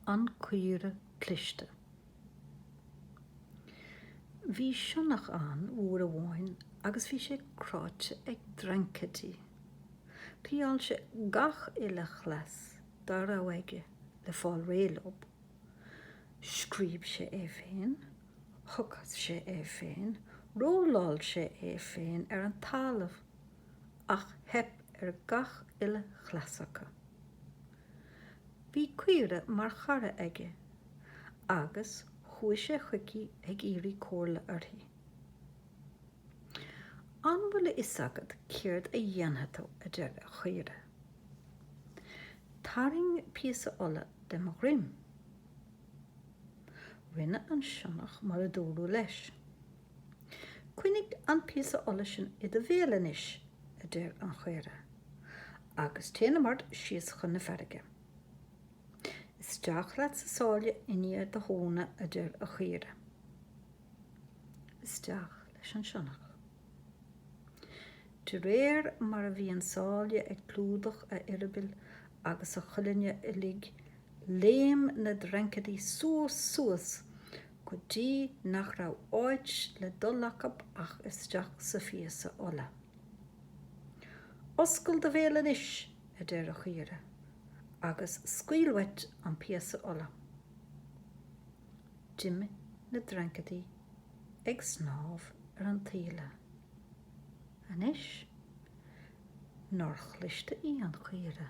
An Chaora Chliste. Bhí sionnach ann uair amháin agus bhí sé cráidhte ag dreancaidí. Thriáil sé gach uile chleas dá raibh aige le fáil réidh leob. Scríob sé é féin, thochas sé é féin, rolláil sé é féin ar an talamh, ach theip ar gach uile chleas acu. Bhí caora mar chara aige agus chuaigh sé chuici ag iarraidh comhairle uirthi. An bhfuil a fhios agat céard a dhéanfaidh tú, a deir an chaora. Tarraing píosa olla de mo dhroim. Rinne an sionnach mar a dúradh leis. Coinnigh an píosa olla sin i do bhéal anois, a deir an chaora, agus téanam ort síos chun na farraige. Isteach leat sa sáile i ndiaidh do thóna, a deir an chaora. Isteach leis an sionnach. De réir mar a bhí an sáile ag clúdach a eireabaill agus a cholainne uilig, léim na dreancaidí suas suas go dtí nach raibh áit le dul acu ach isteach sa phíosa olla. 'Oscail do bhéal anois, a deir an chaora, 'agus scaoil uait an píosa olla. D'imigh na dreancaidí ag snámh ar an taoille. Anois, nár chliste í an chaora?